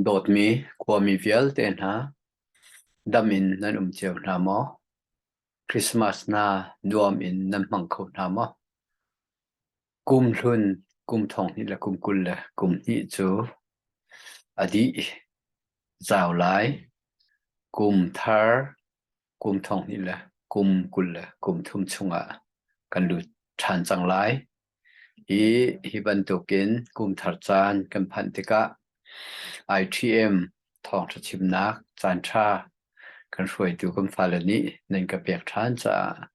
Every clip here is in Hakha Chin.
Dawtmi khuami vialte hna, dam in nan um cio hna maw? Christmas na nuam in nan hmang kho hna maw? Kum hlun, kum thong hnih le kum kul le kum hnih cu a dih, zau lai. Kum thar, kum thonghnih le kum kul le kum thum chungah kan lut ṭhan cang lai. Hi hi bantukin kum thar caan kan phanh tikah ITM thawngṭha chimnak caanṭha kan hruaitu kan fale nih nan ka pek ṭhan caah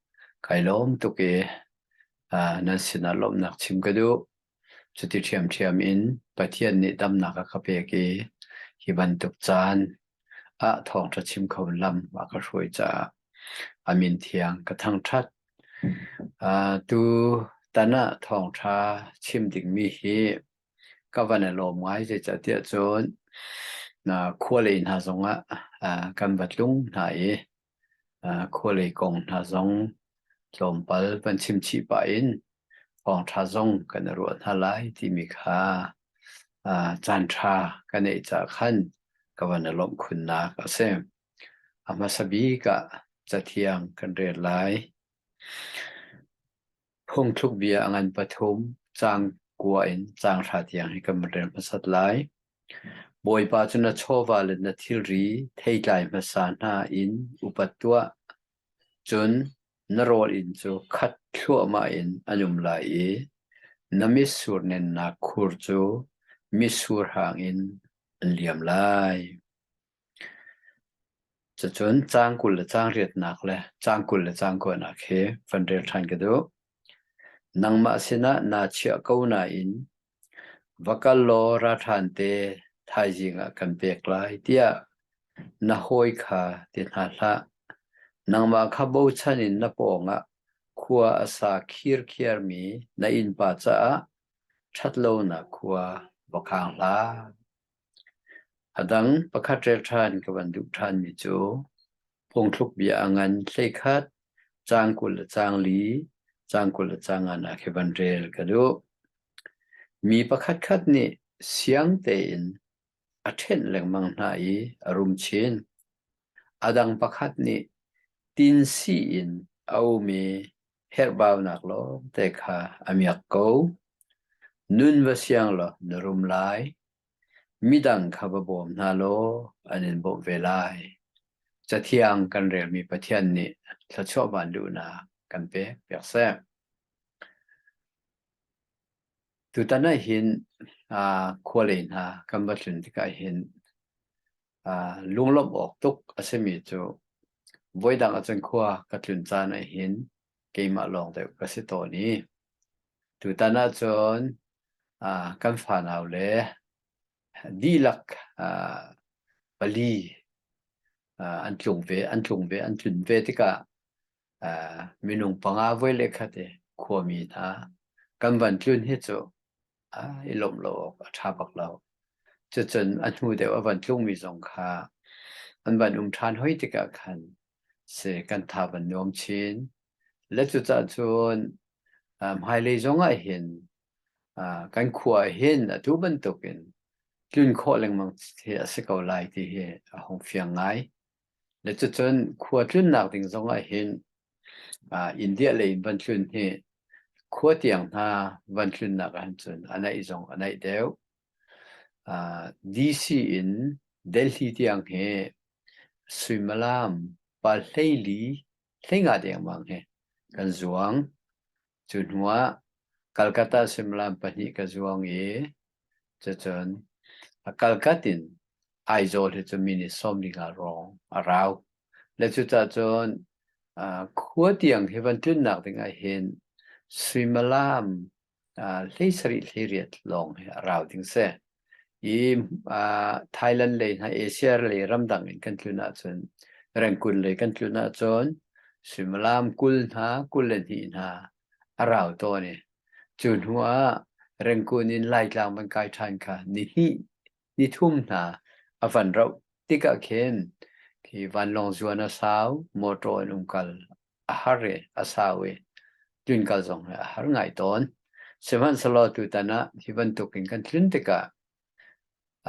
kai lawm tuk i nan sinah lawmhnak chim ka duh. Cuti ṭhiamṭhiam in Pathian nih damnak a ka pek i hi bantuk caan ah thawngṭha chim kho lam a ka hruai caah a min thiang ka thangṭhat. Uh, tu tan ah thawngṭha chim dingmi hi ka van i lawm ngai zeicahtiah cun na khualei hna zongah uh, kan va tlung hna i khualei kong hna zong tlawmpal van chimchih pah in thawngṭha zong kan i ruah hna lai timi kha caanṭha ka neih caah khan ka van i lawmh khunnak a si. A hmasa bik ah cathiang kan rel lai. Phungthlukbia a ngan pathum, caang kua in caang ṭha tiang hi kan rel hmasat lai. Bawipa cu na chawva le na thilri theitlai hmasa hna in upat tuah, cun na rawl inn cu khat thluahmah in an um lai i na mitsur nennak khur cu mitsur hang in an liam lai. Cucun caang kul le caang riatnak le caang kul le caang kuanak hi van rel ṭhan ka duh. Nangmah sinah naa chiah ko nain va kal law ralhrang te thaizing ah kan pek lai tiah na hawi kha ti hna hlah. Nangmah kha bochan in na pawngah khua a sa khirkhiar mi na innpa caah ṭhat lonak khua va khang hlah. Adang pakhat relṭhan ka van duh ṭhanmi cu phungthluk bia a ngan hleikhat caang kul le caang li, caang kul le caang nga nak hi van rel ka duh. Mi pakhatkhat nih siang tein a ṭhenh lengmang hna i a rum chin. Adang pakhat nih tinsi in a um i herhbaunak lawngte kha a miak ko. Nun va siang law na rum lai. Midang kha va bawm hna law an in bawmh ve lai. Cathiang kan relmi Pathian nih thluachuah van luhnak kan pek piak seh. Tutan ah hin uh, khua lei hna kan va tlun tikah hin Ah, lunglawmh awk tuk a simi cu voidang ahcun khua ka tlun caan ah hin keimah lawng deuh ka si tawn i tutan ahcun ah, kan fanau le dihlak ah, pali ah, an tlung ve, an tlung ve, an tlun ve tikah minung panga voi le khat i khuami hna kan van tlun hi cu i lawmh lo awk a ṭha bak lo. Cucun a hnu deuh a van tlungmi zong kha an van um ṭhan hoi tikah khan si kan tha van nuam chin. Le cucah cun hmailei zong ah hin kan khua ah hin atu bantukin tlun khawh lengmang hi a si ko lai ti hi a hung fiang ngai. Nicacun khua tlunnak ding zongah hin India lei in van hlun hi khua tiang hna van hlunnak ahcun a naih zong a naih deuh. DC in Delhi tiang hi suimilam pa hleili hlengah dengmang hi kan zuang. Cu hnuah Calcutta suimilam pahnih ka zuang i cucun a Calcutta in Aizawl hi cu mi nih sawmlinga hrawng a rau. Le cucah cun uh, khua tiang hi van tlunnak dingah hin suimilam uh, hlei sarih hlei riat lawng hi a rau ding si. i Thailand lei hna Asia lei ramdang in kan tlun ahcun rengkun lei kan tlun ahcun suimilam kul hna kul le hnih hna a rau tawn i cu hnu ah rengkun in Laitlang van kai ṭhan kha ni hnih ni thum hna a van rauh tikah khin khi vanlawng zuan a sau, motor in um kal a har i a sau i tlunkal zong hi a har ngai tawn. Sihmanhsehlaw tutan ah hi bantuk in kan tlun tikah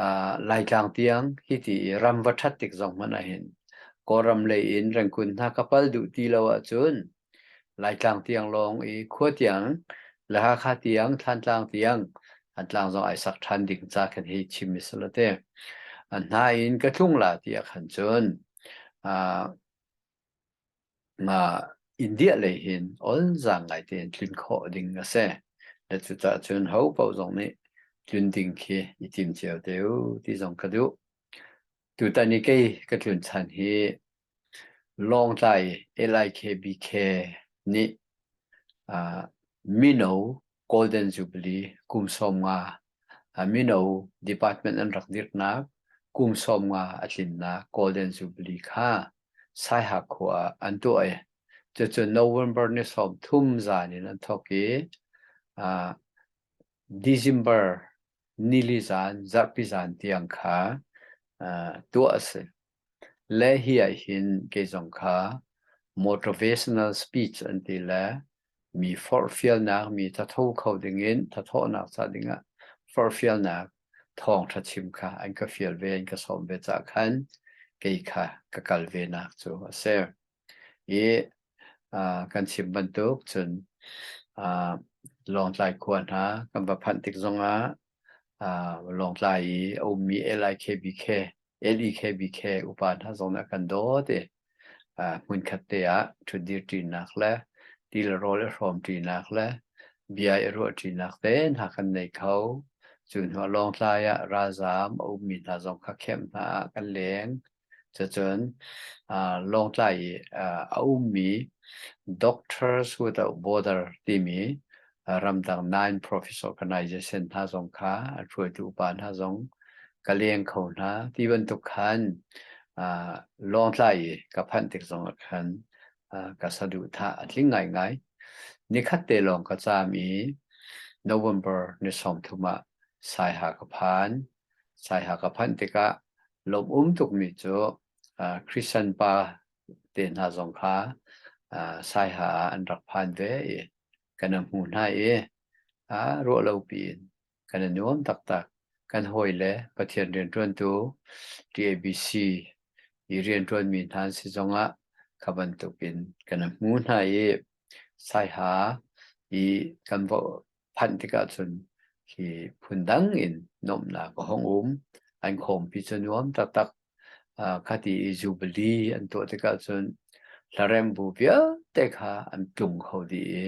uh, Laitlang tiang hi ti i ram va ṭhat tik zong hmanh ahhin Kawlram lei in rengkun hna ka pal duh ti lo ahcun Laitlang tiang lawng i khua tiang le Hakha tiang Thantlang tiang an tlang zong ai sak ṭhan ding ca kan hi chim i sila te. Nain ka tlung la ti ah khan cun uh, Mah India lei hin olzang ngai tein tlun khawh ding a si. Na cucah cun ho paoh zong nih tlun ding khi i tim cio te u ti zong ka duh. Tutan i kei ka tlun chan hi Lawngtlai LIKBK nih ah mino Golden Jubilee kum sawm nga Mino department an rak dirhnak kum sawmnga a tlinnak Golden Jubilee kha Saihak khua ah an tuah i cucu November ni sawmthum zan in an thawk i December nili zan, zarhpi zan tiang kha tuah a si. Le hi ah hin kei zong kha motivational speech an ti le mi forhfialnak, mi thatho kho dingin thathawhnak ca dingah forhfialnak thawngtha chim kha an ka fial ve, an ka sawm ve ca khan kei kha ka kal ve nak cu a si. I uh, kan chim bantuk cun uh, Lawngtlai khua hna kan va phanh tik zongah uh, Lawngtlai i a ummi LIKBK, LEKBK upa hna zong nih kan dawt i uh, hmunkhat te ah ṭhutdir ṭinak le tilarawl i hrawm ṭinak le bia i ruah ṭinak te hna kan nei kho. Cu hnuah Lawngtlai ah ralzaam a ummi hna zong kha kheimh hna ah kan leng. Cacun Lawngtlai i a ummi Doctors Without Border timi ramdang non-profit organization hna zong kha a hruaitu upa hna zong ka leng kho hna. Ti bantuk khan Lawngtlai i ka phanh tik zong ah khan ka saduhthah a tling ngaingai. Nikhat te lawng ka caam i November ni sawmthum ah Saiha ka phan. Saiha ka phanh tikah lawmum tukmi cu Christian pa te hna zong kha Saiha ah an rak phan ve i kan a hmu hna i ruahlopi in kan a nuam taktak. Kan hawile Pathian rianṭuantu TABC i rianṭuanmi hna an si zongah kha bantukin kan a hmu hna i Saiha i kan phanh tikah cun hi phundang in nomnak a hong um an khawmpi cu nuam taktak khati i jubilee an tuah tikah cun hlarem bu vialte kha an tlung kho dih i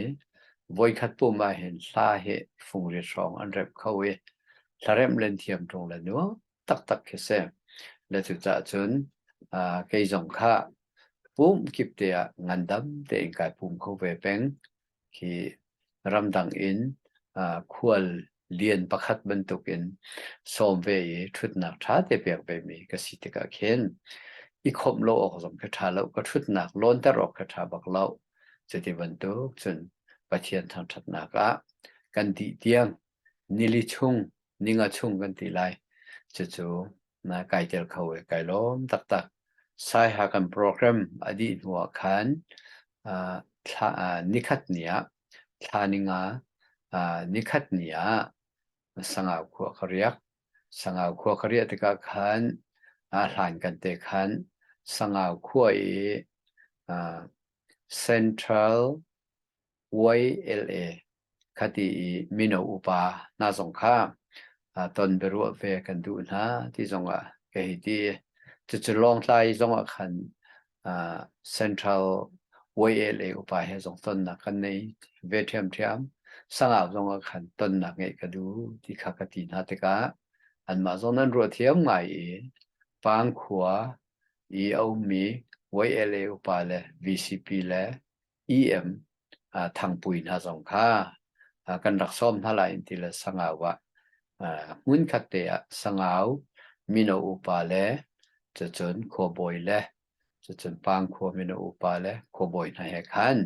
voikhat pum ah hin hla hi fungrit hrawng an rep kho i hlarem len thiam ṭung le nuam taktak khi si le cucah cun kei zong kha pum kip te ah ngandam tein kai pum kho ve peng khi ramdang in khual lian pakhat bantuk in sawm ve i ṭhutnak ṭha te pek vemi ka si tikah khin i khawmh lo awk zong khi ṭha lo ka ṭhutnak lawnter awk khi ṭha bak lo cuti bantuk cun Pathian thangṭhatnak ah kan dih tiang Nili chung, ninga chung kan ti lai. Cucu na kai tel kho i kai lawm taktak. Saiha kan program a dih hnu ah khan nikhat ni ah, thla ninga nikhat ni ah sangau khua ka riak. Sangau khua ka riah tikah khan hlan kan te khan sangau khua i Central YLA khati i mino upa hna zong kha ton biaruah ve kan duh hna ti zong ah ka hi ti cucu lawngtlai zong ah khan central YLA upa he zong tonnak kan nei ve ṭhiam ṭhiam sangau zong ah khan tonnak ngeih ka du ti kha ka ti hna tikah anmah zong nan ruah thiam ngai i pangkhua i aummi YLA upa le VCP le EM thangpui hna zong kha kan rak sawm hna lai in ti le sangau ah hmun khat te ah sangau mino upa le cun khuabawi le cun pangkhua mino upa le khuabawi hna he khan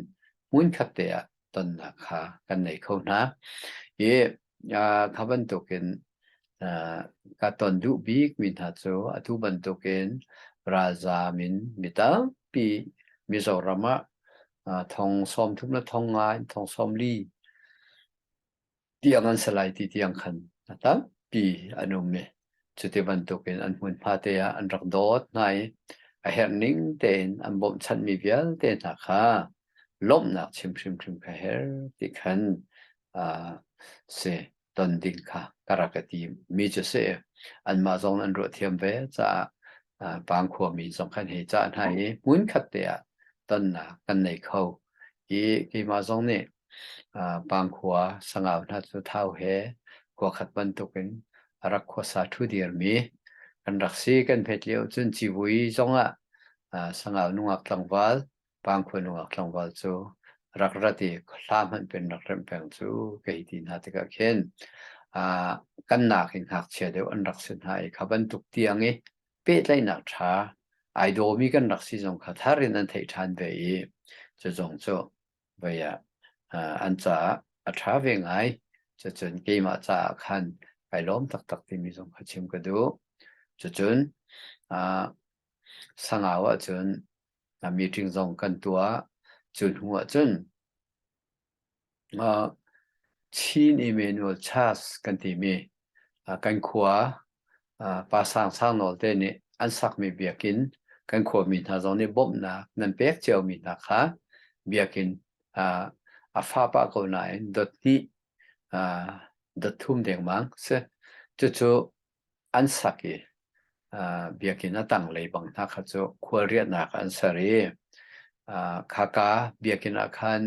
hmun khat te ah tonnak kha kan nei kho hna. I Ja tha bantukin uh, ka ton duh bik mi hna cu atu bantukin ralzam in mi tampi Mizoram ah uh, thong som thum le thong ngai thong som li tiang an salai ti tiang khan a tampi an um mi Cuti bantukin an hmun fate ah an rak dawt hna i a herh ning tein an bawmhchanhmi vialte hna kha lawmhnak chim hrimhrim kha herh ti khan uh, si ton ding kha ka rak ka ti mi cu si anmah zong an ruah thiam ve caah uh, bang khuami zong khan hei ca hna i hmun khat te ah tonnak kan nei kho i keimah zong nih Pangkhua sangau hna cu thau he khua khat bantuk in a rak khuasa ṭhu dirmi kan rak si. Kan hmet lio cun civui zongah sangau nungak tlangval, pangkhua nungak tlangval cu rak rat i hla hmanh pen rak remh peng cu ka hi ti hna tikah khin kan nak in ngakchia deuh an rak si hna i kha bantuk tiang i pehtlaihnak ṭha ai dawmi kan rak si zong kha thar in an theih ṭhan ve i cu zong cu Vai ah an caah a ṭha ve ngai. Cucun keimah caah khan kai lawm taktak timi zong kha chim ka duh. Cucun sangau ahcun meeting zong kan tuah. Cu hnu ahcun Chin Emmanuel Church kan timi kan khua pa sang sang nawl te nih an sakmi biakin kan khuami hna zong nih bawmhnak nan pek ciomi hna kha biakin a fa pah ko nain dot hnih dot thum dengmang si cucu an sak i Biakinn a tanglei bang hna kha cu khualriahnak an ser i khaka biakinn ah khan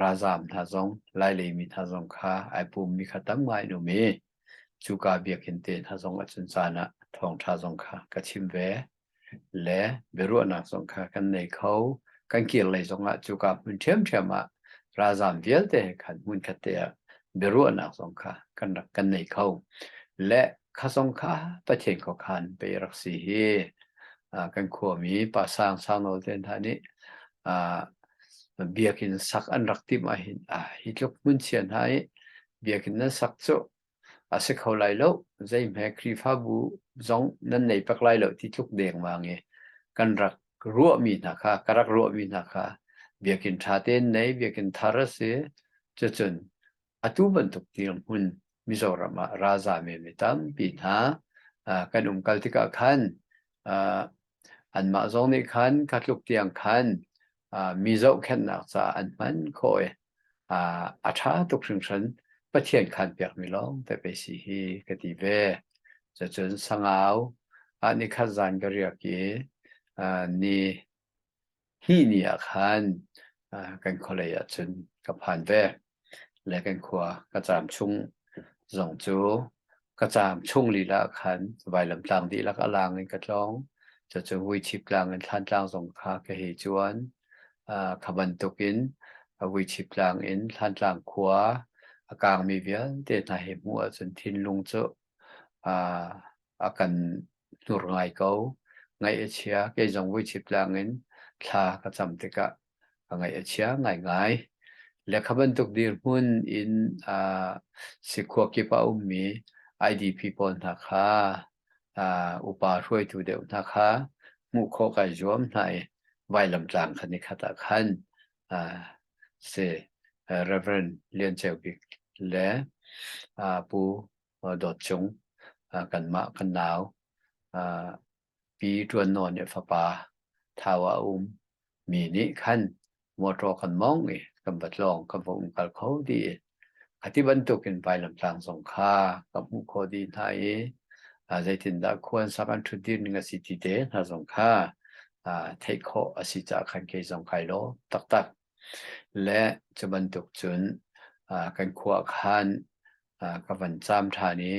ralzaam hna zong lailei mi hna zong kha ai pummi kha tamngai an um i cuka biakinn te hna zong ah cun caan ah thawngṭha zong kha ka chim ve. le biaruahnak zong kha kan nei kho kan kir lei zongah cu ka hmun ṭhiamṭhiam ah ralzam vialte khan hmun khatte ah biaruahnak zong kha kan rak kan nei kho le kha zong kha pathian ko khan pe rak si hi kan khuami pa sang sang nawl ten tha nih biakin sak an rak tim ah hin hi tluk hmun chia hna i biakin nan sak cu A si kho lai lo. Zeihme Khrihfabu zong nan nei pek lai lo ti tluk dengmang i kan rak ruahmi hna kha, ka rak ruahmi hna kha Biakinn ṭha tein nei, Biakinn thar a si. Cucun atu bantuk dirhmun Mizoram ah ralza menmi tampi hna uh, kan umkal tikah khan uh, anmah zong nih khan ka tluk tiang khan uh, mi zohkhenhnak caah an hman khawh i a ṭha tuk hringhran. Pathian khanpiakmi lawngte pei si hi ka ti ve. Cucun sangau ah ni khat zan ka riak i ni hnih ni ah khan kan khualei ah cun ka phan ve. Le kan khua ka caam chung zong cu ka caam chung lila ah khan vailamtlang dihlak a lang in ka tlawng. Cucu vuichip tlang in thlan tlang zong kha ka hei cuan. Kha bantukin Vuichip tlang in Hlantlang khua a kaangmi vialte hna hi hmuh ahcun thinlung cu a kan hnur ngai ko. Ngaih a chia. Kei zong Vuichip tlang in thla ka cam tikah ka ngaih a chia ngaingai. Le kha bantuk dirhmun in si khua kip a ummi IDP pawl hna kha upa hruaitu deuh hna kha hmuh khawh kai zuam hna i vailamtlang khan i khat ah khan si Reverend Lian Ceu Bik le Pu Dawt Cung kanmah kan nau Pi Ṭuan Nawn nih fapa Thau a um mi nih khan motor kan mong i kan batlong kan vok kal kho di a ti bantuk in vailam tlang zong kha kan hmuh kho di hna i zeitindah khuan sakan thut dir ning a si ti te hna zong kha theih khawh a si ca khan ke zong kai lo taktak le cu bantuk cun kan khua khan ka van cham than i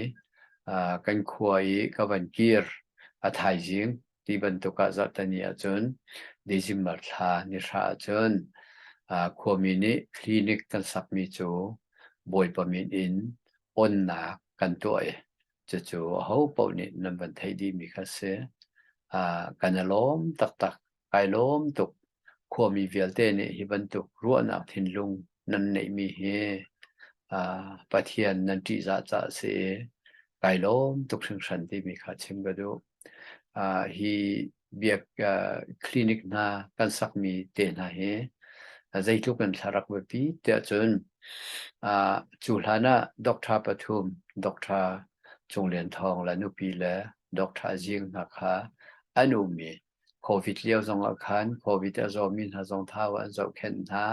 kan khua i ka van kir a thaizing ti bantuk ah zarhtani ahcun December thla ni hra ahcun khuami nih clinic kan sakmi cu bawipa min in onnak kan tuah i cucu aho paoh nih nan van theih dihmi kha si kan i lawm taktak kai lawm tuk khuami vialte nih hi bantuk ruahnak thinlung nan neihmi hi pathian nan ṭihzah ca a si i kai lawm tuk hringhran timi kha chim ka duh hi biak clinic hna kan sakmi te hna hi zeitluk in thlarak biapi tiah cun cu hlan ah doctor pathum doctor Cung Lian Thawng le nupi le doctor Jing hna kha an ummi covid lio zong ah khan covid a zawmi hna zong thau an zohkhenh hna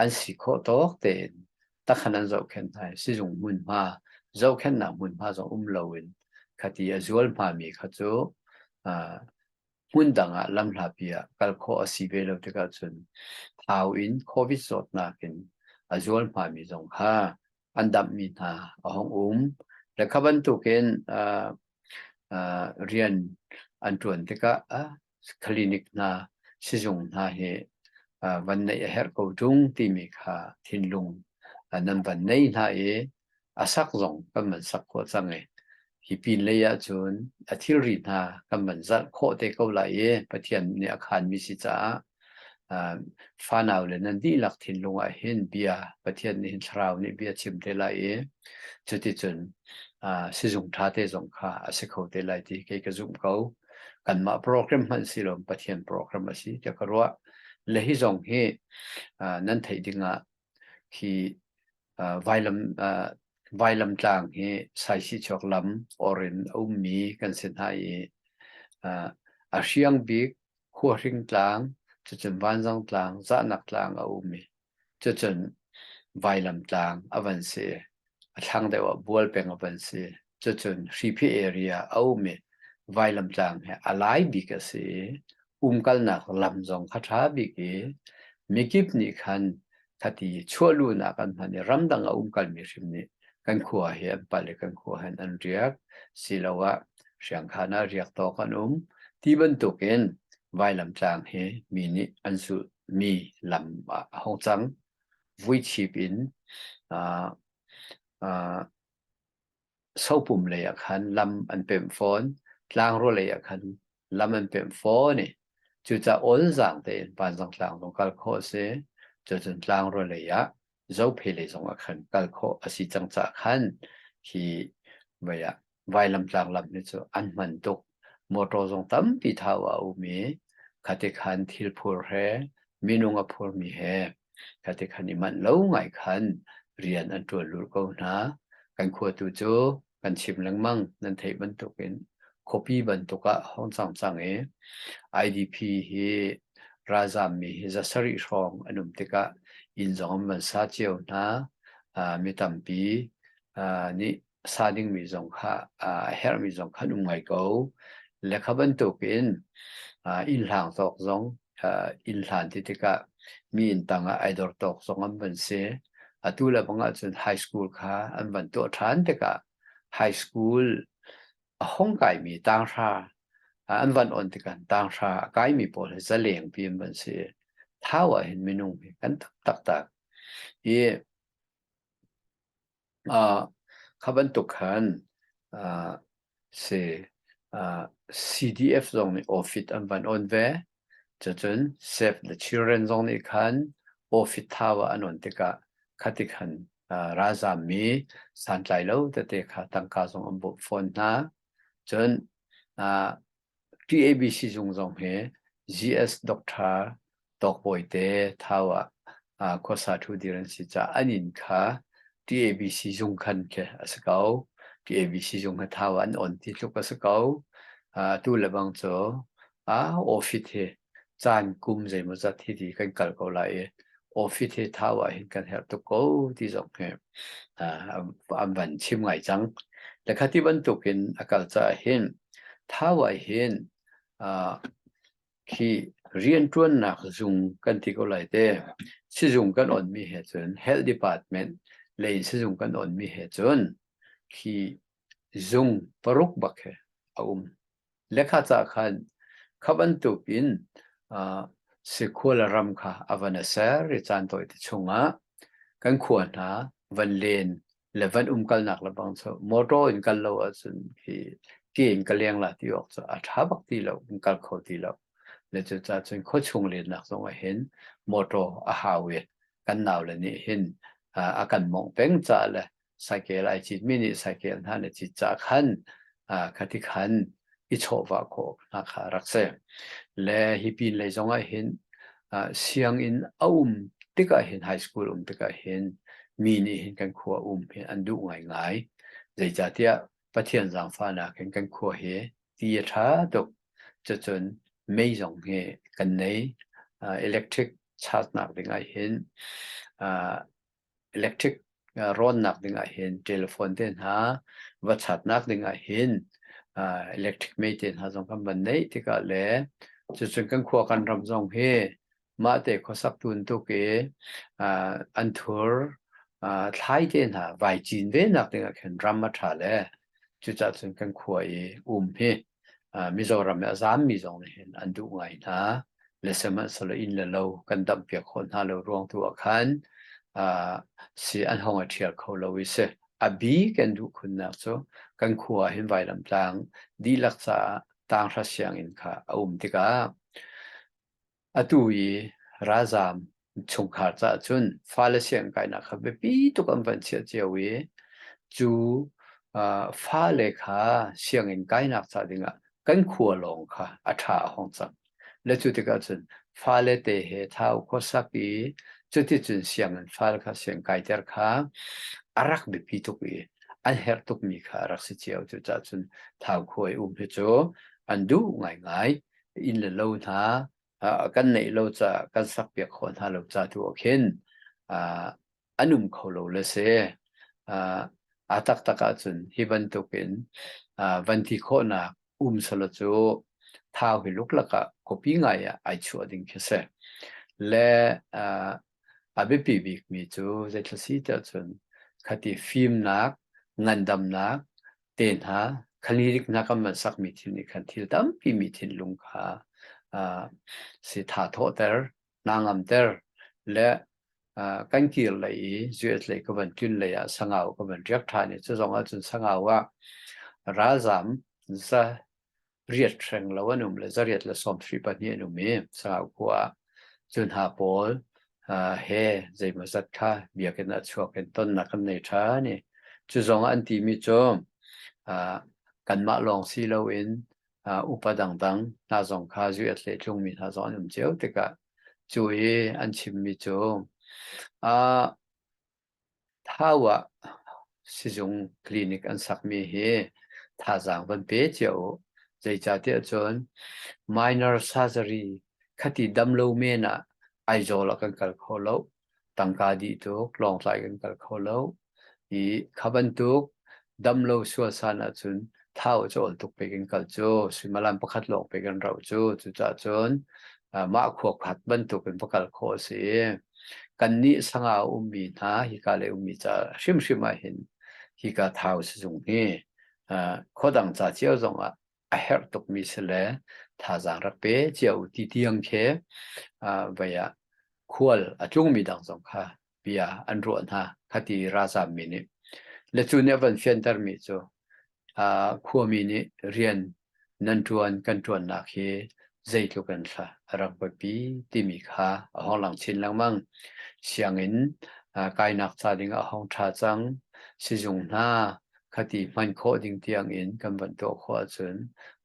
an si khawh tawk tein takhan an zohkhenh hna i sizung hmunhma zohkhenhnak hmunhma zong um loin khati a zual hmami kha cu hmun dang ah lamhlapi ah kal khawh a si ve lo tikah cun thau in covid zawtnak in a zual hmami zong kha an damhmi hna a hong um le kha bantukin rian an ṭuan tikah clinic hna sizung hna hi van nei a herh ko ṭung timi kha thinlung nan van nei hna i a sak zong kan van sak khawh cang i hi pin lei ah cun a thilri hna kan van zarh khawh te ko lai i Pathian nih a khanmi si caah fanau le nan dihlak thinlung ah hin bia pathian nih hin thlarau nih bia chim te lai i cuticun sizung ṭha te zong kha a si kho te lai ti kei ka zumh ko kanmah program hmanh si lo pathian program a si ti ka ruah le hi zong hi nan theih dingah khi vailam vailam tlang hi saisi chok lam orin ummi kan si hna i a hriang bik Huahring tlang, cucun Vanzang tlang, Zahnak tlang a um i cucun Vailam tlang a van si. A thlang deuh ah Bual peng a van si. Cucun Hriphi area a um i Vailam tlang hi a lai bik a si i umkalnak lam zong kha ṭha bik i mikip nih khan thati chuah lu nak an hman i ramdang a umkal mi hrim nih kan khua hi an pal i kan khua hen an riak siloah hriangkhan ah riak tawk an um ti bantuk in vailam tlang hi mi nih an su mi lam ah a hong cang vui chip in uh, uh, sopum lei ah khan lam an pemh fawn. Tlangraw lei ah khan lam an pemh fawn i cucaah olzaang tein Panzang Tlang zong kal khawh a si. Cucun Tlangraw lei ah Zophei lei zong ah khan kal khawh a si cang caah khan hi mei ah vailamtlang lam hi cu an hman tuk. Motor zong tampi thau a um i khatikhan thilphur he minung a phurmi he Khatikhan i manh lo ngai khan rian an ṭuan lur ko hna. Kan khua tu cu kan chim lengmang nan theih bantukin khuapi bantuk ah hong cang cang i IDP hi ralzaam mi hi za sarih hrawng an um tikah inn zong an van sa cio hna. mi tampi nih a sa dingmi zong kha a herhmi zong kha an um ngai ko. Le kha bantuk in inn hlang tawk zong inn hlan ti tikah mi inn tang ah ai dor tawk zong an van si. Atu le bang ahcun high school kha an van tuah ṭhan tikah high school a hong kaimi tanghra an van on tikah tanghra a kaimi pawl hi zaleng pi an van si. Thau ah hin minung hi kan tak taktak. I Ah, kha bantuk khan ah, si ah, CDF zong nih ofit an van on ve. Cacun Save the Children zong nih khan ofit thawa an on tikah khati khan ah, ralzaam mi santlai lo tete kha tangka zong an bawh fawn hna. Cun ah, TABC zung zong hi GS doctor Dawk Bawi te thau ah khuasa ṭhu dir an si caah an inn kha TABC zung khan khi a si ko. TABC zung hi thau ah an on ti tluk a si ko. Atu lebang cu office hi caan kum zeimawzat hi ti kan kal ko lai i office hi thau ah hin kan herh tuk ko ti zong hi uh, an van chim ngai cang. Le khati bantuk in a kal ca hin thau ah hin uh, khi riantuannak zung kan ti ko lai te sizung kan on mi he cun health department le in sizung kan on mi he cun khi zung paruk bak he a um Lekhaca khan kha bantuk in sikhual ram kha a van a ser i caan tawi te chungah kan khua hna van len le van umkalnak le bang cu motor in kal lo ahcun hi ti in ka lengla ti awk cu a ṭha bak ti lo in kal kho ti lo. Le cucah cun khuachung lennak zongah hin motor a hau i kan nau le nih hin a kan mawngh peng caah le cycle ai cit mi nih cycle hna ne cit ca khan khati khan i chawhva kho hna kha rak se le hi pin lei zong ah hin sianginn a um tikah hin high school um tikah hin mi nih hin kan khua um hi an duh ngai ngai zeicatiah pathian zaangfahnak hin kan khua hi ti a tha tuk cun mei zong hi kan nei electric charge nak ding ah hin electric rawnnak ding ah hin telephone te hna va chatnak ding ah hin electric mei te hna zong kan van neih tikah le cucun kan khua kan ram zong hi mah te khuasak tun tuk i an thur thlai te hna vai cin ve nak ding ah khin ram a tha le cucah cun kan khua i um hi Mizoram i a zaammi zong nih hin an duh ngai hna. Le sihmanhsehlaw inn le lo kan damhpiak khawh hna lo ruang tu ah khan si an hong i ṭhial kho lo i si. A bik in duh khunnak cu kan khua ah hin vailamtlang dihlak caah tang hra sianginn kha a um tikah Atu i ralzaam chungkhar caah cun fale siangkainak kha biapi tuk an van chiah cio i cu ah, fale kha sianginn kainak ca dingah kan khua lawng kha a ṭha a hong cang. Le cu tikah cun fale te he thau khuasak i cuticun sianginn fale kha siangkaiter kha a rak biapi tuk i an herh tukmi kha a rak si cio. Cucahcun thau khua i um hi cu an duh ngaingai. inn le lo hna kan neih lo ca kan sakpiak kho hna lo ca tu ah khin an um kho lo le si a taktak ahcun hi bantuk in van ti khawhnak um solo cu thau hi luklak ah copy ngai ah ai chuah ding khi si le a biapi bik mi cu zeitlasi te cun khati fimnak ngandamnak te hna khalirik hna kan man sakmi thil nih khan thil tampi mi thinlung kha uh, si tha thawhter na ngamter le uh, kan kir lei i zuet lei ka van tun lei ah sangau ka van riak tha ni cu zong ah cun sangau ah ralzam za riat hreng lo an um le zariat le sawmhri pahnih an um i salau khua ah cun hna pawl uh, he zeimaw zat kha biakinn ah chuak in tonnak an nei ṭhan i cu zong an timi cu uh, kanmah lawng si loin uh, upa dangdang hna zong kha zuiat le tlungmi hna zong an um cio tikah cu i an chimmi cu uh, Thau ah sizung clinic an sakmi hi thazaang van pe cio u. Zeicatiah cun minor surgery khati dam lo men ah Aizawl ah kan kal kho lo. Tangka dih tuk, Lawngtlai kan kal kho lo. I kha bantuk damlo sualsan ahcun thau cawl tuk pek in kal cu suimalan pakhat lawng pek an rau cu cucah cun mah khuakhat bantuk in va kal khawh a si kan nih sanga a ummi hna hika le ummi ca hrimhrim ah hin hika thau si zung hi khodang ca cio zong ah a herh tukmi si le thazang rak pe cia u ti tiang khe vaya khual a tlungmi dang zong kha bia an ruah hna khati ralzam mi nih le cu nih a van fianter mi cu khuami nih rian nan ṭuan kan ṭuannak hi zeitluk in thla a rak buapi timi kha a hong lang chin lengmang sianginn kainak ca ding a hong ṭha cang sizung hna khati hman khawh ding tiang in kan van tuah khawh ahcun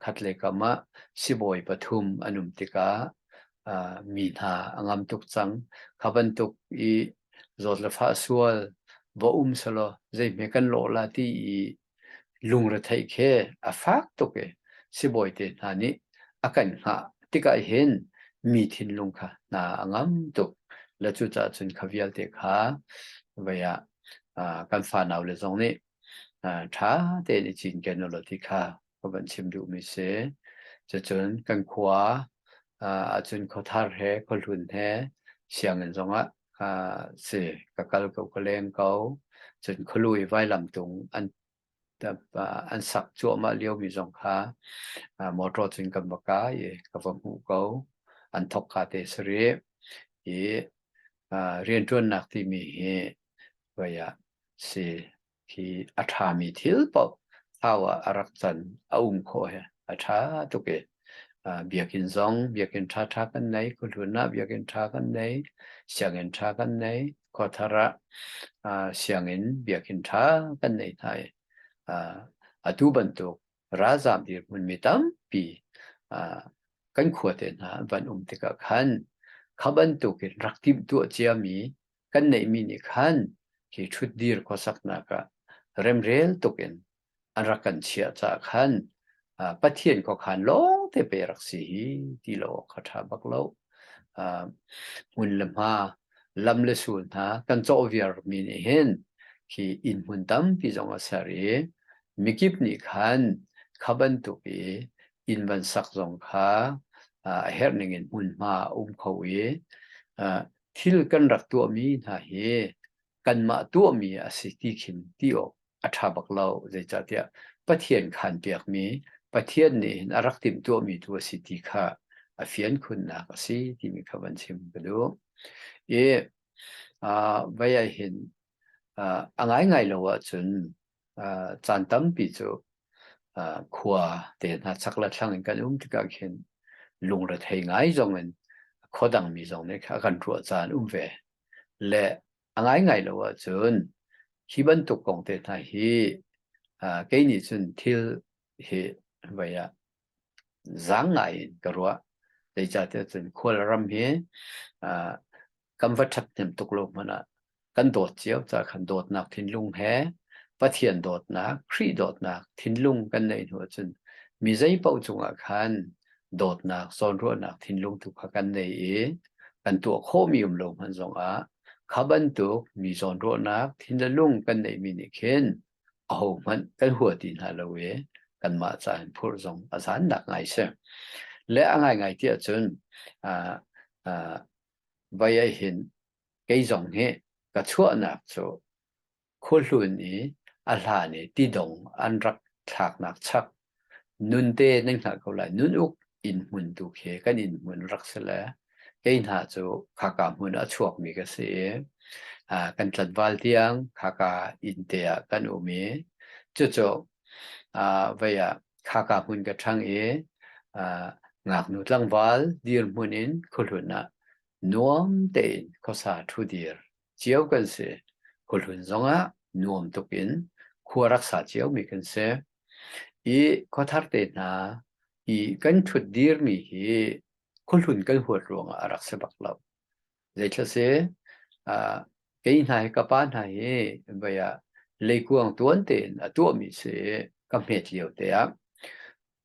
khatlei kam ah sibawi pathum an um tikah mi hna a ngam tuk cang. Kha bantuk i zawt le fah sual va um selaw zeihme kan lawh la ti i lungrethei khe a fak tuk i sibawi te hna nih a kan hngah tikah hin mi thinlung kha hna a ngam tuk le cucah cun kha vialte kha vaya kan fanau le zong nih ṭha tein i cinken u law ti kha ka van chim duhmi si. Cucun kan khua ahcun khuathar he, khuahlun he sianginn zongah si ka kal ko, ka leng ko. Cun khualu i vailamtung an an sak cuahmah liomi zong kha motor cun kan va ka i ka va hmuh ko. An thok ka te sarih. I riantuannak timi hi vaya si khi a ṭhami thil paoh sau ah a rak can a um khawh hi a ṭha tuk i biakinn zong biakinn ṭha ṭha kan nei khuhlun ah biakinn ṭha kan nei sianginn ṭha kan nei khuathar ah sianginn biakinn ṭha kan nei hna i atu bantuk ralzaam dirhmunmi tampi kan khuate hna van um tikah khan kha bantukin rak timh tuah ciami kan neihmi nih khan hi ṭhutdir khuasaknak ah remrel tuk in an rak kan chiah caah khan Pathian khuakhan lawngte pe rak si hi ti lo awk kha ṭha bak lo. Hmun le hma, lam le sul hna kan cawh viarmi nih hin khi inn hmun tampi zong a ser i mikip nih khan kha bantuk i inn van sak zong kha a herh ning in hmunhma a um kho i thil kan rak tuahmi hna hi kanmah tuahmi a si ti khin ti awk a ṭha bak lo. Zeicahtiah Pathian khaanpiakmi, Pathian nih hin a rak timhtuahmi tu a si ti kha a fian khunnak a si timi kha van chim ka duh. I, ah, vai ahhin, ah, a ngaingai lo ahcun caan tampi cu khua te hna chak le thlang in kan um tikah khin lungrethei ngai zong in khua dangmi zong nih kha a kan ruah caan um ve. Le a ngaingai lo ahcun hi bantuk kong te hna hi kei nih cun thil hi voi ah zaang ngai in ka ruah. Zeicahtiah cun khualram hi uh, kan va ṭhat hnem tuk lo hmanh ah kan dawt cio ca khan dawtnak thinlung he Pathian dawtnak, Khrih dawtnak thinlung kan nei hnu ahcun mi zeipaoh cungah khan dawtnak, zawnruahnak thinlung tu kha kan nei i kan tuah khawhmi um lo hmanh zongah kha bantuk mi zawnruahnak thinlung kan neihmi nih khin ahohmanh kan hua ti hna lo i kanmah ca in phurh zong a zannak ngai si. Le a ngaingai ti ahcun vai ei hin kei zong hi ka chuahnak cu khuahlun i a hlan i tidong an rak thlaknak chak Nun te nan hngah ko lai. Nun uk in hmun tu khi kan inn hmun rak si le kei hna cu khaka hmun a chuakmi ka si i ah, kan tlanval tiang khaka inn te ah kan um i cucu ah, vei ah khaka hmun ka ṭhang i ah, ngaknu tlangval dirhmun in khuahlun ah nuam tein khuasa ṭhu dir. cio kan si. Khuhlun zongah nuam tuk in khua rak sa cio mi kan si. I khuathar te hna i kan thut dir mi hi khuhlun kan huat ruangah a rak si bak lo. Zeitlai si, uh, kei hna hi ka pa hna hi baya leikuang tuan tein a tua mi si ka hmet lio te ah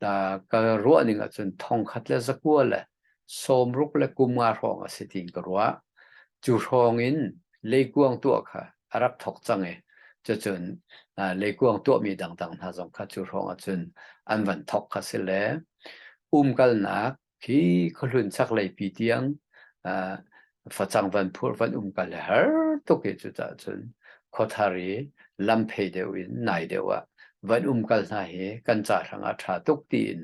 ta ka ruah ning ahcun thongkhat le zakua le sawmruk le kumnga hrawng a si tiin ka ruah. Cu hrawng in leikuang tuah kha a rak thok cang i cucun leikuang tuahmi dangdang hna zong kha cu hrawng ahcun an van thok kha si le umkalnak Khi khuahlun chaklei pi tiang ah facang van phurh van um kal har tuk hi cucah cun khuathar i lam phei deuh in nai deuh ah van um kal hna hi kan ca hrangah ṭha tuk tiin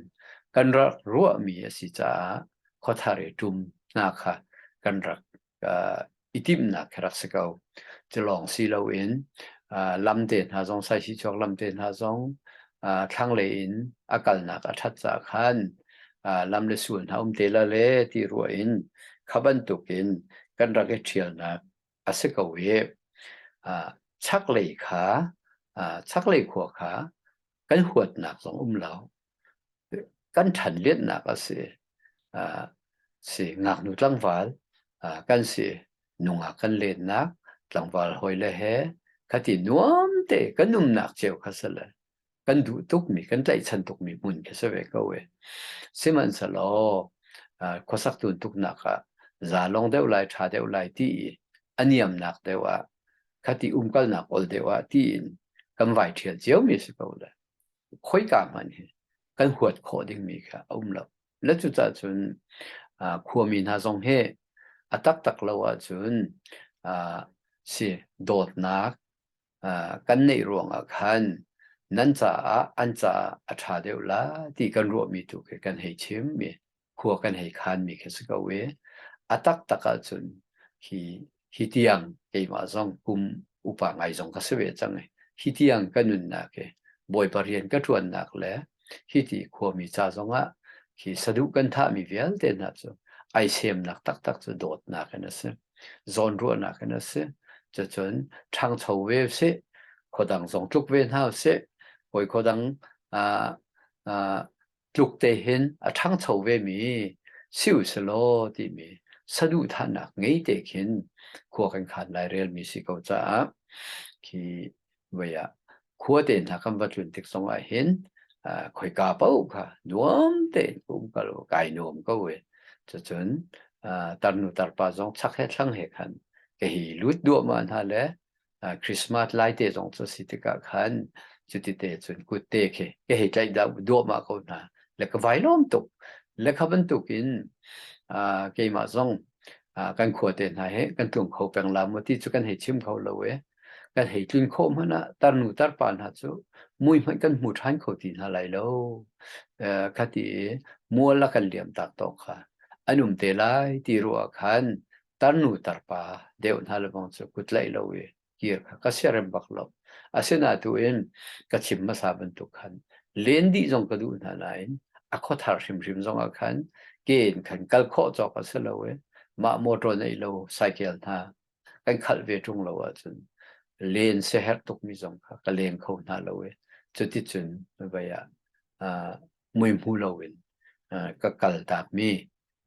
kan rak ruahmi a si caah khuathar i ṭum hna kha kan rak uh, i timhnak ka rak si ko cilawng si loin uh, lam te hna zong sai si chuak lam te hna zong uh, thlanglei in a kalnak a that ca khan uh, lam le sul hna um te la le ti ruwa in khabantuk in kan rak i ṭhialnak a si ko i uh, chaklei kha uh, chaklei khua kha kan huatnak zong um lo kan ṭhan lianhnak a si. Uh, si ngaknu tlangval uh, kan si nungak kan lennak tlangval hoi le he khati nuam te kan nunnak cheu kha sala kan duh tukmi kan tlaihchan tukmi mun khi se ve ko e sihmanhselaw uh, khuasak tun tuknak ah zalong deuh lai ṭha deuh lai ti i aniamnak deuh ah khati umkalnak ol deuh ah ti in kan vai ṭhial cio mi si ko le khoika hmanh hi kan huat khawh dingmi kha a um lo. Na cucah cun khuami hna zong he a taktak lo ahcun si dawtnak kan neih ruangah khan nan caah an caah a ṭha deuh la ti kan ruahmi tu khi kan hei chim. khua kan hei khanmi khi si ko i a taktak ahcun hi hi tiang keimah zong kum upa ngai zong ka si ve cang i hi tiang ka nunnak i bawipa rian ka ṭuannak le hi ti khuami ca zongah khi saduh kan thahmi vialte hna cu ai semnak taktak cu dawtnak in a si zawn ruahnak in a si cucun ṭhangcho ve si khuadang zong tluk ve hna sih hawi khuadang tluk te hin a ṭhangcho vemi si usilaw timi saduhthahnak ngei te khin khua kan khan lai relmi si ko caah khi voi ah khua te hna kan va tlun tik zong ah hin uh, khoika pau kha nuam tein umkal kai nuam ko e cucun uh, tarnu tarpa zong chak he thlang he khan ka hi lut duahma hna le uh, Christmas lai te zong cu si tikah khan cuti te cun kute khi ke hei tlaih da duahma ko hna le ka vai lom tuk le kha bantuk in uh, keimah zong uh, kan khua te hna he kan tlung kho peng la mu ti cu kan hei chim kho lo e kan hei tlun kho hmana tarnu tarpa hna cu mui hmanh kan hmu than kho ti hna lai lo uh, khati muala kan liam tak to kha anum te lai ti ruwa khan tarnu tarpa deuh hna lebang cu ku tlaih lo i kir kha ka siarem bak lo asinain tu in ka chim hmasa bantuk khan len dih zong ka duh hna nain a khuathar hrimhrim zongah khan ke in khan kal khawh cawk a si lo i mah motor nei lo cycle hna kan khalh ve ṭung lo ahcun len siaherh tukmi zong kha ka leng kho hna lo i cuticun vei ah muihmu loin ka kal takmi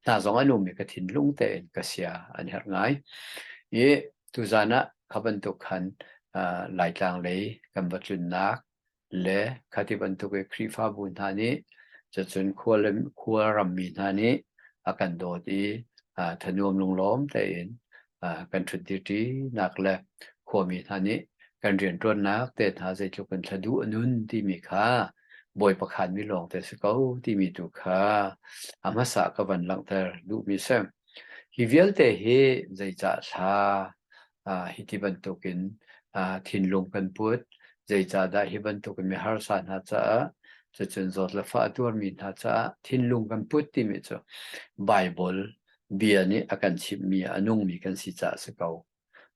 hna zong an um i ka thinlung tein ka sia an herh ngai i tuzan ah kha bantuk khan uh, laitlang lei kan va tlunnak le khati bantuk i khrifabu hna nih cacun khual ram mi hna nih a kan dawt i uh, thanuam lunglawm tein kan ṭhut dihṭinak le khuami hna nih kan rianṭuannak te hna zeitluk in thla duh a nun timi kha bawi pakhaanmi lawngte si ko timi tu kha a hmasa ka van langhter duhmi si. Hi vialte hi zeicah hla hi ti bantukin thinlung kan put zeicah dah hi bantukin mi harsa hna caah cucun zawt le fah a tuarmi hna caah thinlung kan put timi cu Baibal bia nih a kan chimhmi a nungmi kan si caah a si ko.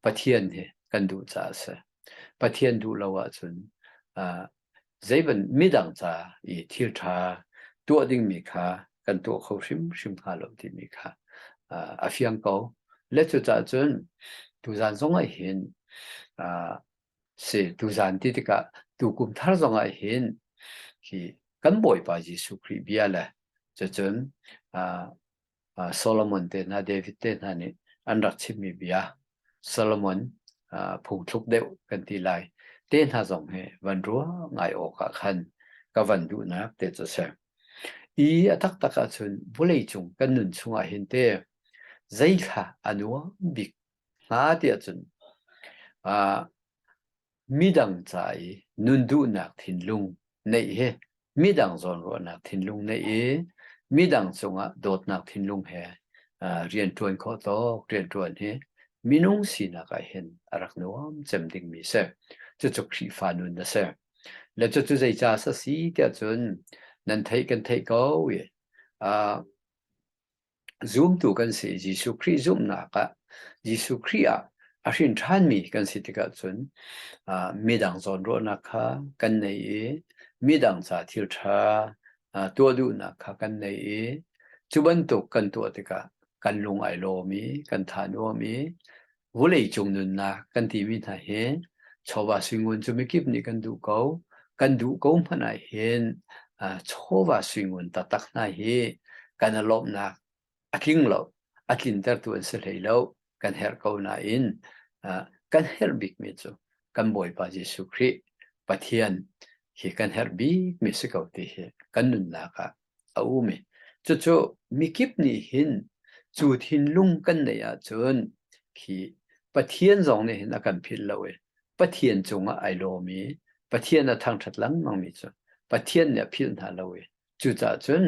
Pathian hi kan duh caah a si. Pathian duh lo ahcun zeiband midang ca i thil ṭha tuah dingmi kha kan tuah kho hrimhrim hnga lo timi kha a fiang ko. Le cucaah cun tuzaan zongah hin si tuzaan ti tikah tukum thar zongah hin hi kan Bawipa Jesuh Khrih bia le cucun Solomon tehna, David tehna nih an rak chimmi bia, Solomon phungthluk deuh kan ti lai, tehna zong hi van ruah ngai awkah khan ka van duhnak te cu a si. I a taktak ahcun vawleicung kan nun chungah hin te zeithla a nuam bik hnga ti ahcun Midang ca i nun duhnak thinlung neih hi midang zawnruahnak thinlung neih i midang cungah dawtnak thinlung he uh, rian ṭuan khawh tawk rian ṭuan hi minung sinak ah hin a rak nuam cem dingmi si. Cucu Khrihfa nun a si. Le cucu zei ca sa si tiah cun nan theih kan theih ko i uh, Zumtu kan si i Jesuh Khrih zumhnak ah Jesuh Khrih ah a hrin ṭhanmi kan si tikah cun ah midang zawnruahnak kha kan nei i midang ca thil ṭha ah tuah duhnak kha kan nei i cu bantuk kan tuah tikah kan lung ai lawm i kan thanuam i Vuleicung nunnak kan timi hna hi chawva suingun cu mikip nih kan duh ko. Kan duh ko hmanh ah hin uh, chawva suingun taktak hna hi kan i lawmhnak a tling lo, a tlintertu an si hlei lo. Kan herh ko nain uh, kan herh bikmi cu kan Bawipa Jesuh Khrih Pathian hi kan herh bikmi si ko ti hi kan nunnak ah a um i cucu mikip nih hin cu thinlung kan neih ahcun khi Pathian zong nih hin a kan philh lo i Pathian cungah ai lawm i Pathian a thangṭhat lengmangmi cu Pathian nih a philh hna lo i cucaah cun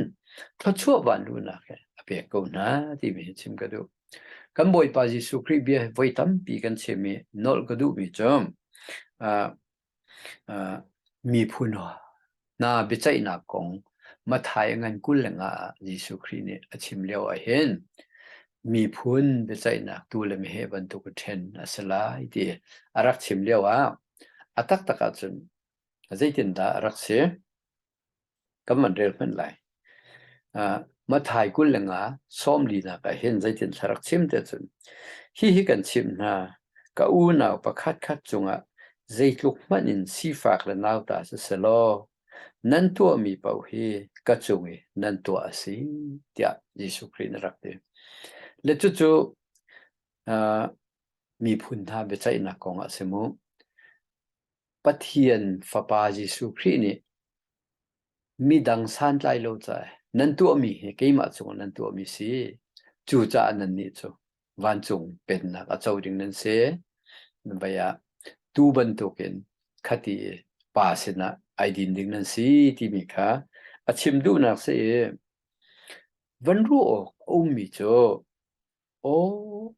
thluachuah vanlunak he a pek ko hna timi hi chim ka duh. Kan Bawipa Jesuh Khrih bia voi tampi kan chim i nolh ka duhmi cu miphun hna biaceihnak kong Matthai ngan kul le nga ah Jesuh Khrih nih a chim lio ahhin miphun biaceihnak tu le meheh bantuk a ṭhen a si lai ti a rak chim lio ah a taktak ahcun zeitindah a rak si? kan van rel hmanh lai. Uh, Mathai kul le nga som linak ah hin zeitin thlarak chim te cun hi hi kan chim hna ka unau pakhat khat cungah zeitluk hmanh in sifak le nauta si selaw nan tuah mi pau hi ka cung i nan tuah a si tiah Jesuh Khrih na rak ti. Le cucu uh, miphun hna biaceihnak kong ah si mu. Pathian Fapa Jesuh Khrih nih midang santlai lo ca nan tuahmi hi keimah cungah nan tuahmi si. Cucaah nannih cu vancung pennak a co ding nan si. Vei ah tuu bantukin khati i Pa sinah ai din ding nan si timi kha a chim duhnak si i van ruah awk a ummi cu Aw,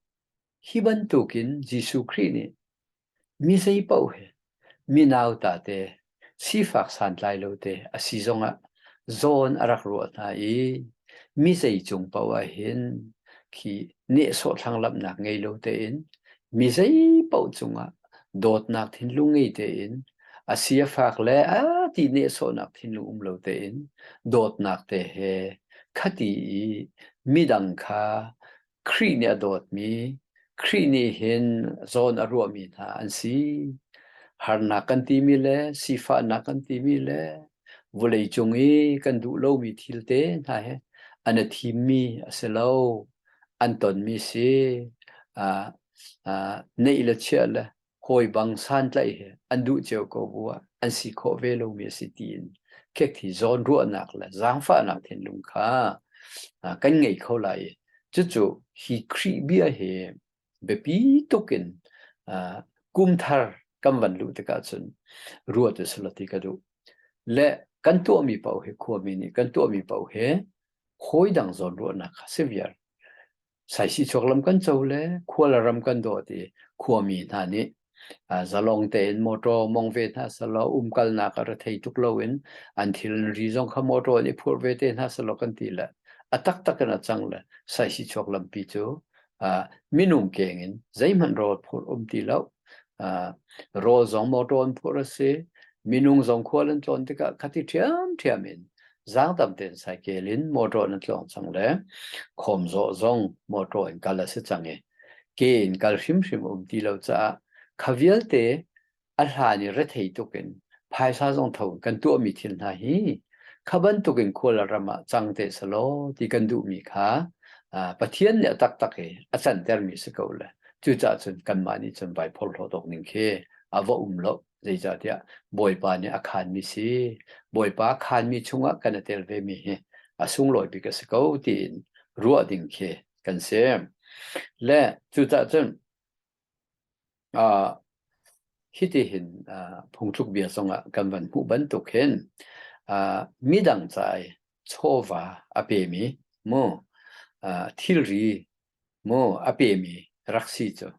hi bantukin Jesuh Khrih nih mi zei paoh hi mi nauta te, sifak santlai lo te a si zongah zawn a rak ruah hna i mi zei cung paoh ah hin khi nehsawh thlanglamnak ngei lo tein mi zei paoh cungah dawtnak thinlung ngei tein a si a fak le a ti nehsawhnak thinlung um lo tein dawtnak te he khati i midang kha Khrih nih a dawtmi Khrih nih hin zawn a ruahmi hna an si harnak kan timi le sifahnak kan timi le vawlei cung i kan duh lomi thil te hna he an a thimmi a si lo an tonmi si uh, uh, neih le chiah le hawi bang santlaih he an duh cio ko bu ah an si khawh ve lomi a si tiin khek thi zawn ruahnak le zaangfahnak thinlung kha kan ngei kho lai cucu hi khrih bia hi biapi tuk in kumthar kan van luh tikah cun ruat a salati ka duh le kan tuahmi pau hi khuami nih kan tuahmi pau hi hawi dang zawn ruahnak kha si viar Saisihchuak lam kan co le khua le ram kan dawt i khuami hna nih zalong tein motor mong ve hna sehlaw umkalnak a rethei tuk loin an thilnari zong kha motor in i phurh ve te hna sehlaw kan ti le a taktak in a cang le saisihchuak lampi cu minung keng in zeihmanh rawl phurh um ti lo. rawl zong motor an phurh a si minung zong khual an tlawn tikah khati ṭhiam ṭhiam in zang tam tein cycle in motor na tlawn cang le khom zawh zong motor in kal a si cang i ke in kal hrimhrim um ti lo caah kha vialte a hlan i rethei tuk in phaisa zong tho kan tuahmi thil hna hi kha bantukin khual ram ah cang te salo ti kan duhmi kha Pathian nih a taktak i a cantermi si ko le cucah cun kanmah nih cun baiphor lo dawk ning khi a va um lo zeicahtiah Bawipa nih a khanmi si Bawipa khanmi chungah kan a tel vemi hi a sunglawi bik a si ko tiin ruah ding khi kan si le cucah cun Uh, hitihin uh, phungthlukbia zongah kan van hmuh bantuk hin uh, midang cai chawva a pemi mu uh, thilri mu a pemi rak si cu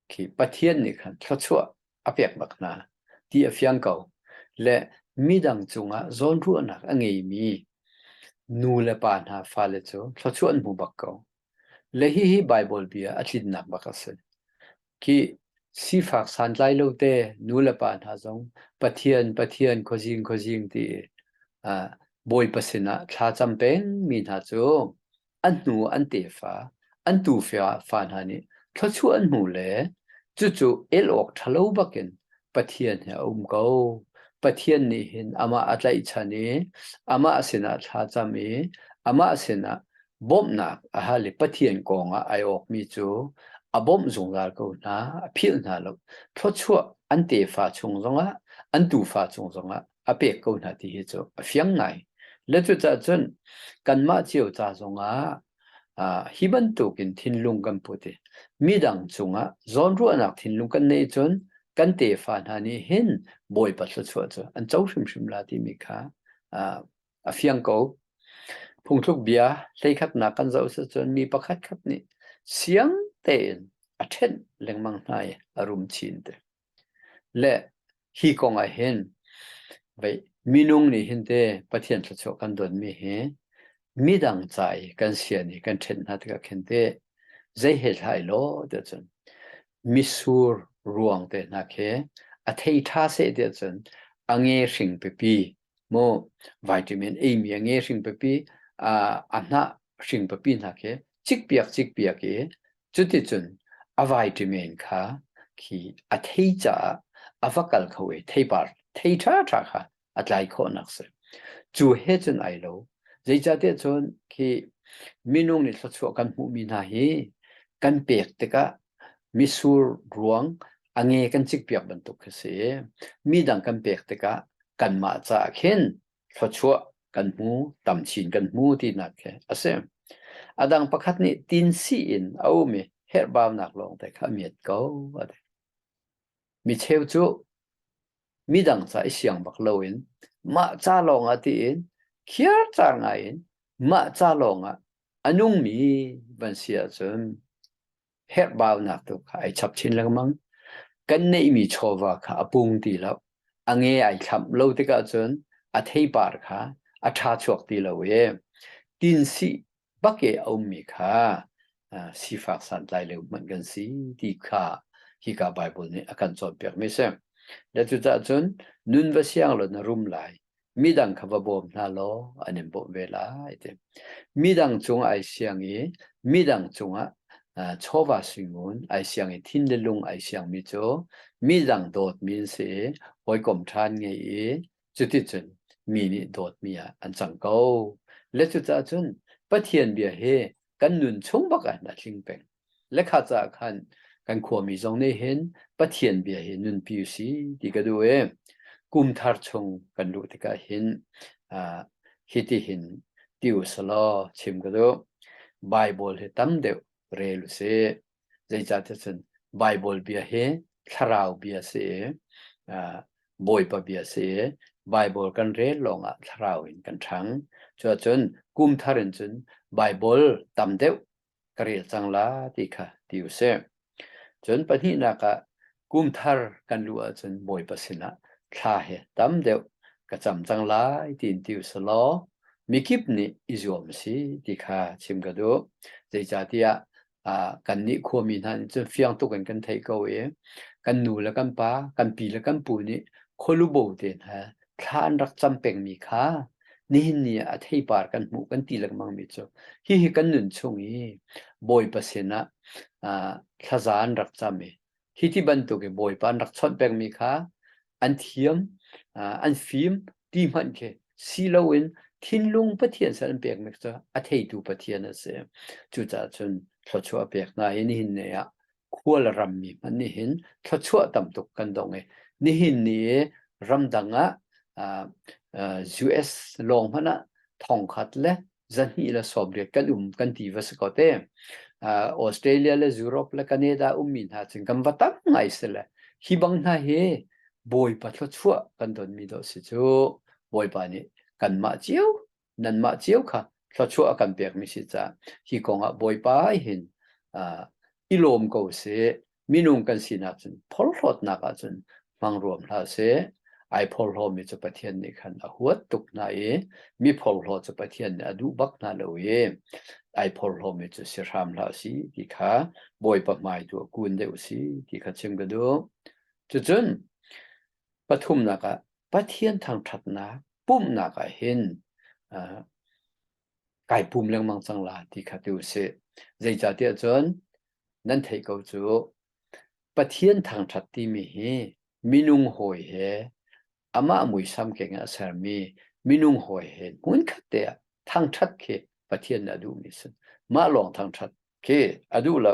khi Pathian nih khan thluachuah a pek bak hna ti a fiang ko le midang cungah zawnruahnak a ngeimi nu le pa hna fale cu thluachuah an hmu bak ko Le hihi Baibal bia a tlinnak bak a si. Khih sifak santlai lo te nu le pa hna zong Pathian, Pathian, khuazing, khuazing ti uh, Bawipa sinah thlacam pengmi hna cu an hnu an tefa, an tufa fa hna nih thluachuah an hmu le cucu el awk ṭhalo bakin Pathian he a um ko. Pathian nih hin amah a tlaihchan i amah sinah thlacam i amah sinah bawmhnak a hal i Pathian kongah ai awkmi cu a bawmh zungzal ko hna, a philh hna lo. Thluachuah an tefa chung zongah, an tufa chung zongah a pek ko hna ti hi cu a fiang ngai. Le cucahcun kanmah cio ca zongah Hi bantukin thinlung kan put i midang cungah zawnruahnak thinlung kan neih cun kan tefa hna nih hin Bawipa thluachuah cu an co hrimhrim la timi kha a fiang ko. Phungthluk bia hleikhatnak kan zoh cun mi pakhat khat nih siang tein a ṭhenh lengmang hna i a rum chin te. Le hi kong ah hin vei minung nih hin te Pathian thluachuah kan donmi hi midang ca i kan sian i kan ṭhen hna tikah khin te zei he hlah law tiah cun misur ruang te hna khi a thei ṭha seh tiah cun a nge hring pipi maw vitamin eimi a nge hring pipi a hnah hring pipi hna khi cikpiak cikpiak i cuticun a vitamin kha khi a thei caah a va kal kho i theipar thei ṭhaṭha kha a tlai khawhnak si. Cu he cun ai lo, zeicahtiah cun khi minung nih thluachuah kan hmuhmi hna hi kan pek tikah Mitsur ruang a nge kan cik piak bantuk khi si i midang kan pek tikah kanmah caah khin thluachuah kan hmu, tam chin kan hmu tinak khi a si. A dang pakhat nih tinsi in a um i herhbaunak lawng te kha a miat ko a ti. Micheu cu midang ca i siang bak loin mah ca lawngah tiin khiarcar ngaiin mah ca lawngah a nungmi van si ahcun herhbaunak tu kha ai chap chin lengmang. Kan neihmi chawva kha a pung ti lo. A nge ai thlamh lo tikah cun a theipar kha a ṭha chuak ti lo i tinsih bake a ummi kha sifak santlai leu hmanh kan si ti kha hika Baibal nih a kan cawnpiakmi si. Na cucaah cun nun va siang law na rum lai. Midang kha va bawm hna law an in bawmh ve lai ti. Midang cungah ai siang i midang cungah chawva singun ai siang i thin le lung ai siangmi cu midang dawtmi an si i hawikom ṭhan ngei i Cuticun mi nih dawtmi ah an cang ko. Le cucaah cun Pathian bia hi kan nun chung bakah hin a tling peng. Le kha caah khan kan khuami zong nih hin Pathian bia hi nunpi u si ti ka duh i kum thar chung kan luh tikah hin uh, hiti hin ti u selaw chim ka duh. Bible hi tam deuh rel u sih. zeicahtiah cun Baibal bia hi thlarau bia a si i Bawipa bia a si i Baibal kan rel lawngah thlarau in kan ṭhang. Cuahcun kum thar in cun Baibal tam deuh ka rel cang la ti kha ti u sih. Cun pahnihnak ah kum thar kan luh ahcun Bawipa sinah thla he tam deuh ka cam cang lai tiin ti u selaw mikip nih i zuam si ti kha chim ka duh. Zeicahtiah kannih khuami hna nih cun fiang tuk in kan theih ko i kan nu le kan pa kan pi le kan pu nih khualubo te hna thla an rak cam pengmi kha nihin ni ah a theipar kan hmuh kan ti legmangmi cu hihi kan nun chung i bawipa sinah thlaza an rak cam i Hi ti bantuk in Bawipa an rak chawnh pengmi kha an thiam, an fim, ti hmanh khi si loin thinlung Pathian sal an pekmi cu a theitu Pathian a si. Cucaah cun thluachuah pek hna hi nihin ni ah khual rammi hmanh nihin thluachuah tam tuk kan dong i nihin ni ramdang ah US lawng hmanh ah thongkhat le zahnih le sawm riat kan um kan ti va si ko te uh, Australia le Europe le Canada ummi hna cun kan va tam ngai si le hi bang hna he bawi patlo chua kan don mi do si cu bawipa nih kan mah cio nan mah cio kha thlachua kan pek mi si ca hi kongah bawipa hin uh, i lawm ko si minung kan sinak cun phorhlawtnak ahcun hmang ruam hlah seh ai phorhlawmi cu Pathian nih khan a huat tuk hna i mi phorhlaw cu Pathian nih a duh bak hna lo i ai phorhlawmi cu si hram hlah si ti kha Bawipa hmai tu a kun deuh si ti kha chim ka duh. Cucun pathumnak ah Pathian thangṭhatnak pumhnak ah hin kai pum lengmang cang la ti kha tu a si. Zeicahtiah cun nan theih ko cu Pathian thangṭhat timi hi minung hawi he amah muisam kengin a sermi minung hawi he hmunkhat te ah thangṭhat khi Pathian nih a duhmi a si. Mah lawng thangṭhat khi a duh lo.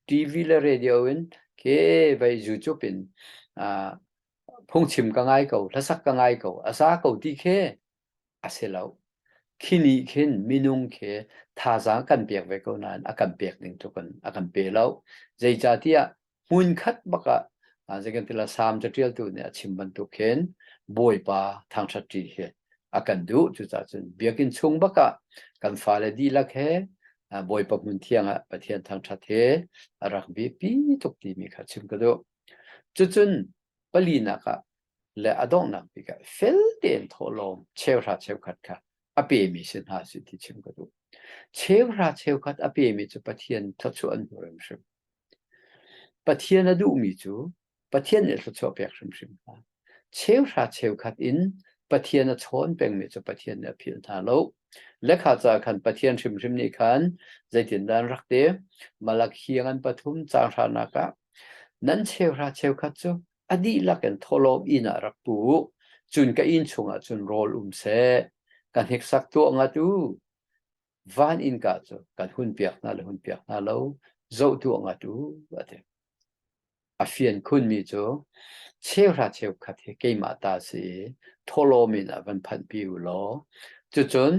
TV le radio in ke vei YouTube in ah phungchim ka ngai ko, hlasak ka ngai ko, a sa ko ti khi a si lo. Khi nih khin minung khi thazaang kan pek ve ko nain a kan pek ning tu kan a kan pe lo. Zeicahtiah hmun khat bak ah zeikan tila sam catialtu nih a chim bantuk khin Bawipa thangṭhat ṭi hi a kan duh. Cucaah cun biakinn chung bak ah kan fale dihlak he Bawipa hmun thiang ah Pathian thangṭhat he a rak biapi tuk timi kha chim ka duh. Cucun palinak ah le a donghnak bik ah fel tein thawhlawm cheuhra cheukhat kha a pemi si hna si ti chim ka duh. Cheuhra cheukhat a pemi cu Pathian thluachuah an hmu hrimhrim. Pathian a duhmi cu Pathian nih thluachuah pek hrimhrim hna. Cheuhra cheukhat in Pathian a chawn pengmi cu Pathian nih a phil hna lo. Lekha ca khan Pathian hrimhrim nih khan zeitindan rak te Malakhi ngan pathum caan hranak ah nan cheuhra cheukhat cu a dihlak in thawhlawm inn ah rak pu, cun ka inn chungah cun rawl um seh, ka hneksak tuah ngat u. Van innka cu kan hunpiak hna le hunpiak hna lo, zoh tuah ngat u, a ti. A fian khunmi cu, cheuhra cheukhat hi keimah ta si i, thawhlawm in a van phanhpi u law, cucun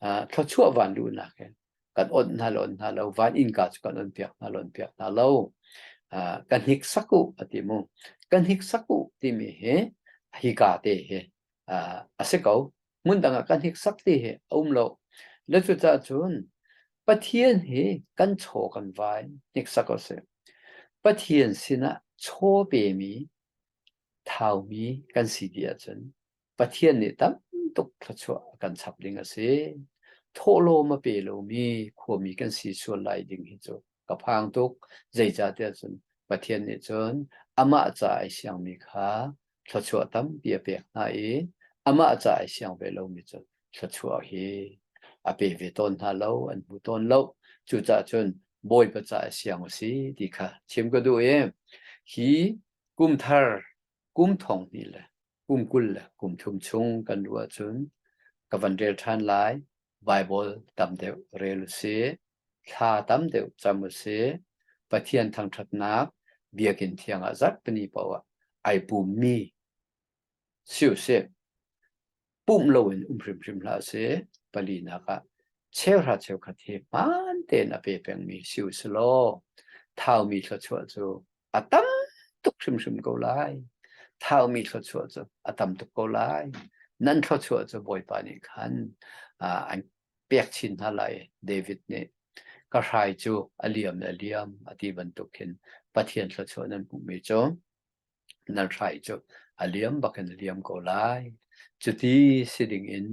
uh, thluachuah van lu nakin kan on hna lo hna lo van innka cu kan on piak hna lon piak hna lo uh, ka hnik saku ati mu ka hnik saku timi hi hika te hi uh, ase ko mun danga ka hnik sak ti hi aum lo le cu ta cun pathian hi kan chaw kan vai hnik sako se pathian sinah chaw pe mi thau mi kan si ti ahcun Pathian nih tam tuk thluachuah a kan chap ding a si. Thawhlawm a pe lomi khuami kan si sual lai ding hi cu ka phang tuk. Zeicahtiah cun Pathian nih cun amah ca ai siangmi kha thluachuah tampi a pek hna i amah ca ai siang ve lomi cu thluachuah hi a pe ve tawn hna lo, an hmu tawn lo. Cucaah cun Bawipa ca ai siang u si ti kha chim ka duh i hi kum thar, kum thong hnih le kum kul le kum thum chung kan ruah ahcun ka van rel ṭhan lai Bible tam deuh rel u si thla tam deuh cam u si Pathian thangṭhatnak biakinn thiangah zat pani paoh ah ai pummi si u si pumh loin um hrimhrim hlah si palinak ah cheuhra cheukhat hi hmaan tein a pe pengmi si u si law thaumi thluachuah cu a tam tuk hrimhrim ko lai thaumi thluachuah cu a tam tuk ko lai nan thluachuah cu bawipa nih khan an pek chin hna lai david nih ka hrai cu a liam le liam a ti bantuk hin pathian thluachuah nan hmuhmi cu nan hrai cu a liam bakin a liam ko lai cuti si ding in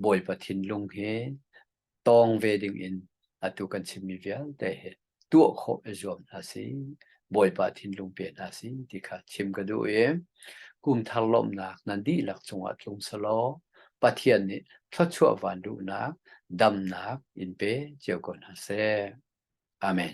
bawipa thinlung he tawng ve dingin atu kan chimmi vialte hi tuah khawh i zuam hna si, Bawipa thinlung pe hna si ti kha chim ka duh i kumthar lawmhnak na dihlak cungah tlung selaw Pathian nih thluachuah van duhnak damnak in pe cio ko hna seh. Amen.